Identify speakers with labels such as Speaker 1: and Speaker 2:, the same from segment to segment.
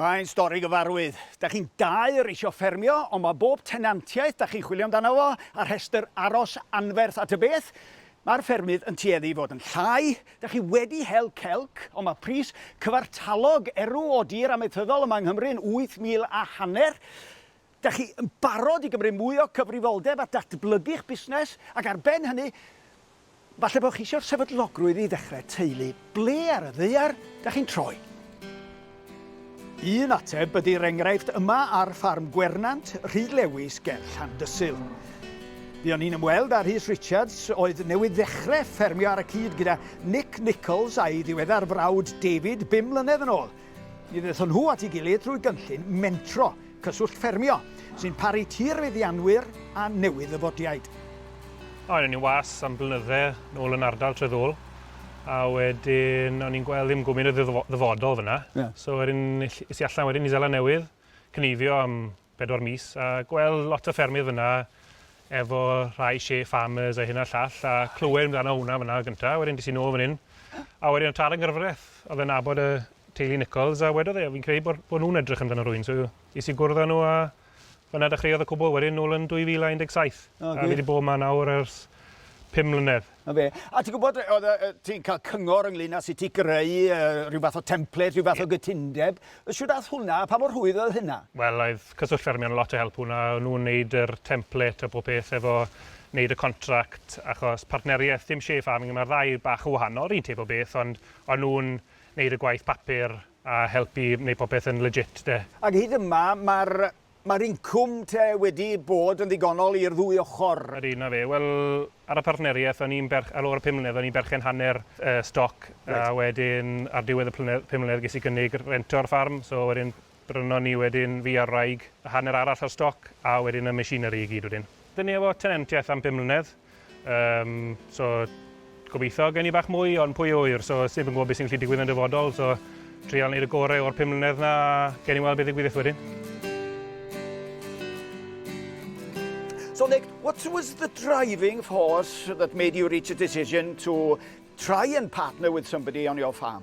Speaker 1: Mae'n stori gyfarwydd. Da chi'n dau yr eisiau ffermio, ond mae bob tenantiaeth da chi'n chwilio amdano fo, a rhestr aros anferth at y beth, mae'r ffermydd yn tueddu i fod yn llai. Da chi wedi hel celc, ond mae pris cyfartalog erw o dir amaethyddol yma yng Nghymru yn wyth mil a hanner. Dach chi yn barod i gymryd mwy o gyfrifoldeb a datblygu'ch busnes? Ac ar ben hynny, falle bod chi eisiau sefydlogrwydd i ddechrau teulu. Ble ar y ddaear dach chi'n troi? Un ateb ydy'r enghraifft yma ar ffarm Gwernant, Rhyd Lewis ger Llandysul. Buon ni'n ymweld â Rhys Richards, oedd newydd ddechrau ffermio ar y cyd gyda Nick Nicholls a'i ddiweddar frawd David bum mlynedd yn ôl. Mi ddaethon nhw at ei gilydd drwy gynllun mentro. Cyswllt Ffermio, sy'n paru tir feddianwyr a newydd-ddyfodiaid. O, o'n
Speaker 2: i'n was am blynydde nôl yn ardal Treddôl, a wedyn o'n i'n gweld ddim gwmyn o ddyfodol fyna. Yeah. So wedyn es i allan wedyn i Zela Newydd, cynifio am bedwar mis, a gweld lot o ffermydd fyna efo rhai share farmers a hyn a llall, a clywed amdano hwnna fyna gyntaf, wedyn des i nôl fan hyn, a wedyn o tad yng Nghyfraith oedd yn nabod y teulu Nicholls a wedodd e, o fi'n credu bod, bod nhw'n edrych amdano rwy'n, so is i gwrdd â nhw a fyna dechreuodd y cwbl wedyn nôl yn 2017. Oh, a fi wedi bod yma nawr ers 5 mlynedd. Na fe. A ti'n gwybod, oedd uh, ti'n cael
Speaker 1: cyngor ynglyn â sut ti greu uh, rhyw fath o template, rhyw fath o gytundeb. Siwr ath hwnna, a pa mor rhwydd oedd hynna? Wel, oedd cyswllt
Speaker 2: ffermio'n lot o help hwnna. O'n nhw'n neud yr template a bob peth efo neud y contract, achos partneriaeth, dim chef farming, mae'r ddau bach o wahanol, rhywun teb o beth, ond o'n nhw'n Wneud y gwaith papur a helpu wneud popeth yn legit 'de. Ac hyd yma
Speaker 1: mae'r mae'r incwm te wedi bod yn ddigonol i'r ddwy ochr? Ydy, 'na fe. Wel,
Speaker 2: ar y partneriaeth o'n i'n berch- ar ôl y pum mlynedd o'n i'n berchen hanner y stoc a wedyn ar diwedd y plynedd- pum mlynedd ges i gynnig rhento'r ffarm so wedyn Brynon ni wedyn fi a'r wraig y hanner arall o'r stoc a wedyn y machinery i gyd wedyn. Dyn ni efo tenantiaeth am bum mlynedd yym so gobeithio gen i bach mwy ond pwy a ŵyr so sneb yn gwybod be sy'n gallu digwydd yn y dyfodol so trial neud y gore o'r pum mlynedd na a gewn ni weld be ddigwyddith wedyn.
Speaker 1: So Nick, what was the driving force that made you reach a decision to try and partner with somebody on your farm?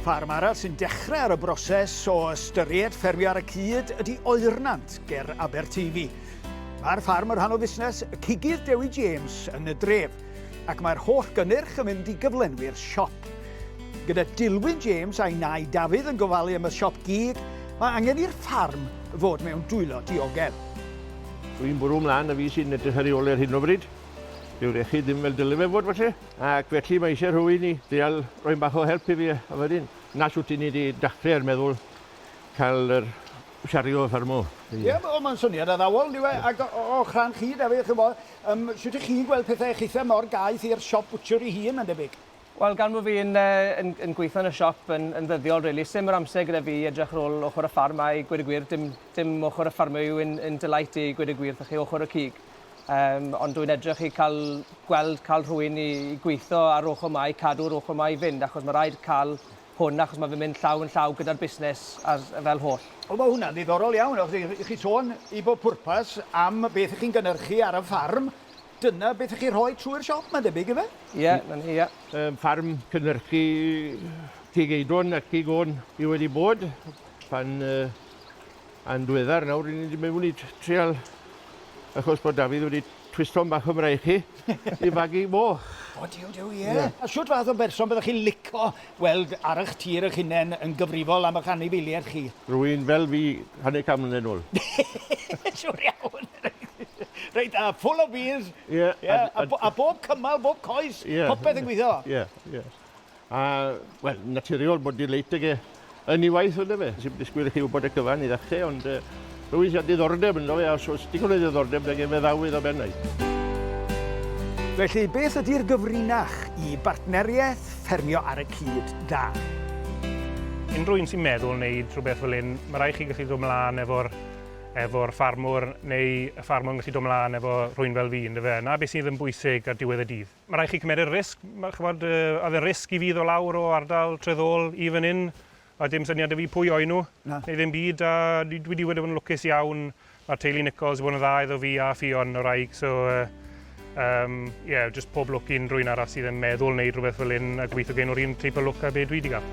Speaker 1: Ffarm arall sy'n dechrau ar y broses o ystyried ffermio ar y cyd ydy Oernant, ger Aberteifi. Mae'r ffarm yn rhan o fusnes y cigydd Dewi James yn y dref, ac mae'r holl gynnyrch yn mynd i gyflenwi'r siop. Gyda Dilwyn James a'i nai Dafydd yn gofalu am y siop gig, mae angen i'r ffarm fod mewn dwylo diogel. Dwi'n
Speaker 3: bwrw mlaen y fi sy'n edrych ar ei ôl e ar hyn o bryd. Dyw'r iechyd ddim fel dyle fe fod falle. Ac felly mae eisiau rhywun i dreial rhoi bach o help i fi a wedyn 'na shwt i ni 'di dachre er meddwl ca'l yr shario y ffarm 'ma. Ie wel ma'n syniad
Speaker 1: addawol yndyw e ac o- o- o'ch rhan chi Dafydd ch'mo' yym shwt 'ych chi'n gweld pethe chithe mor gaeth i'r siop bwtsiwr 'i hun ma'n debyg? Wel gan bo' fi yn
Speaker 4: yy yn yn gweitho yn y siop yn yn ddyddiol rili sim yr amser gyda fi i edrych ar ôl ochor y ffarm a i gweud y gwir dim dim ochor y ffarmio yw un un delight i gweud y gwir 'tho chi ochor y cig. Yym, ond dwi'n edrych i cael gweld cael rhywun i, i gweithio ar ochr mae, cadw'r ochr mae i fynd, achos mae rhaid cael hwn, achos mae fe'n mynd llaw yn llaw gyda'r busnes as, fel holl. O, mae hwnna'n ddiddorol
Speaker 1: iawn, achos i, i chi sôn i bob pwrpas am beth chi'n gynnyrchu ar y ffarm, dyna beth chi'n rhoi trwy'r siop, mae'n debyg, ife? Ie, yeah, na ni, ie. Yeah.
Speaker 4: Um, ffarm
Speaker 3: cynnyrchu cig eidron a cig o'n i wedi bod pan uh, Yn ddiweddar nawr, ry'n ni wedi mynd i trial achos bod Dafydd wedi twisto'n bach o fraich i fagu moch. O, diw, diw, ie. Yeah.
Speaker 1: Yeah. A siwt fath o berson byddwch chi'n lico weld ar eich tir eich hunain yn gyfrifol am eich anifeiliaid chi? Rwy'n
Speaker 3: fel fi,
Speaker 1: hanner can
Speaker 3: mlynedd nôl.
Speaker 1: Siwr
Speaker 3: iawn.
Speaker 1: Reit da, full of beans. Yeah. yeah. A, a,
Speaker 3: a bob
Speaker 1: cymal, bob coes, yeah. popeth yn gweithio. Yeah, yeah.
Speaker 3: A, wel, naturiol bod delight ag e yn ei waith, ynde fe? Si'm disgwyl i chi wybod y cyfan i ddechrau, ond uh, rwy'n siarad diddordeb ynddo fe, a os oes digon o ddiddordeb, da gen fe ddawydd o bennau. Felly,
Speaker 1: beth ydy'r gyfrinach i bartneriaeth ffermio ar y cyd da?
Speaker 2: Unrhyw un sy'n meddwl wneud rhywbeth fel hyn, mae rhaid chi gallu dod mlaen efo'r efo ffarmwr, neu y ffarmwr yn gallu dod mlaen efo rhywun fel fi, ynddo fe? Na beth sydd yn bwysig ar diwedd y dydd. Mae rhaid chi cymeryd risg, ch'mod, oedd e'n risg i fi ddod lawr o ardal Tredd-ôl i fan 'yn, oedd dim syniad 'da fi pwy oen nhw, neu ddim byd, a dwi wedi bod yn lwcus iawn, ma' teulu Nicholls wedi bod yn dda iddo fi a Ffion, 'wraig, so yym ie, jyst pob lwc i unrhyw un arall sydd yn meddwl wneud rhywbeth fel 'yn a gobeithio gawn nhw'r un teip o lwc â be' dwi 'di ga'l.